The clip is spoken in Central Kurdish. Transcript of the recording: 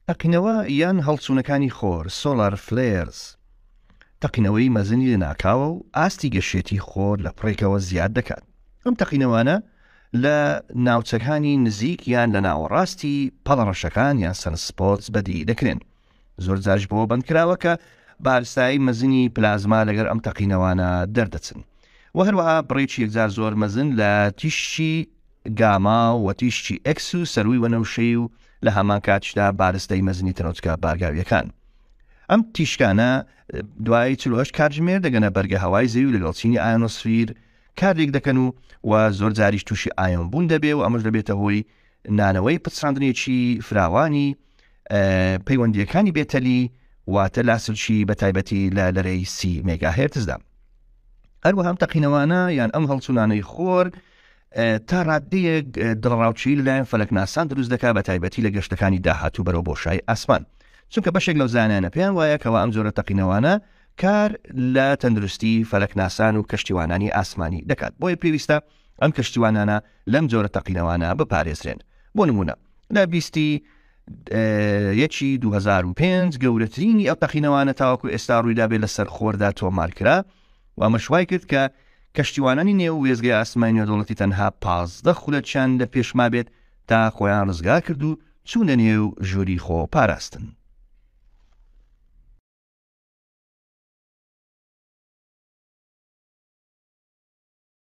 تەقینەوە یان هەڵچوونەکانی خۆر، Solar Flares، تەقینەوەی مەزنی لەناکاوە و ئاستی گەشێتی خۆر لە پڕێکەوە زیاد دەکات. ئەم تەقینەوانە لە ناوچەکانی نزیک یان لە ناوەڕاستی پەڵەڕەشەکان یان Sunspots بەدی دەکرێن. زۆرجاریش بەوە بەندکراوە کە بارستایی مەزنی پلازما لەگەر ئەم تەقینەوانە دەردەچن و هەروەها بڕێکی یەکجار زۆر مەزن لە تیشی گاما و تیشی ئەکس و سەروی وەنەوشەی و لە هەمان کاتشدا بارستەی مەزنی تەنۆچکە بارگاویەکان ئەم تیشکانە دوای چلوهشت کاتژمێر دەگەنە بەرگە هەوای زەوی لەگەڵ چینی ئایۆنۆسفیر کارێک دەکەن و و زۆر جاریش تووشی ئایۆن بوون دەبێ و ئەمەش دەبێتە هۆی نانەوەی پچڕاندنێکی فراوانی پەیوەندیەکانی بێتەلی واتە لاسلشی بە تایبەتی لە لەرەی سی مێگا هێرتزدا هەروە هەم تەقینەوانە یان ئەم هەڵچونانەی خۆر تا ڕادەیەک دڕاوچی لەلایەن فەلەکناسان دروست دەکات بە تایبەتی لە گەشتەکانی داهاتوو بەرەو بۆشای ئاسمان چونکە بەشێک لەو زانانە پێیان وایە کەەوە ئەم جۆرە تەقینەوانە کار لە تەندروستی فەلەکناسان و کەشتیوانانی ئاسمانی دەکات بۆیە پێویستە ئەم کەشتیوانانە لەم جۆرە تەقینەوانە بپارێزرێن بۆ نمونە لە بیستی یەکی 2005 گەورەترینی ئەو تەقینەوانە تاوەکو ئێستا ڕوویدابێت لە سەرخۆردا تۆمارکرا و ئەمەشوای کرد کە کەشتیوانانی نێو وێزگەی ئاسمانی نێودوڵەتی تەنها پازدە خولەکیان لە پێشما بێت تا خۆیان ڕزگار کرد و چوونە نێو ژووری خۆ پاراستن.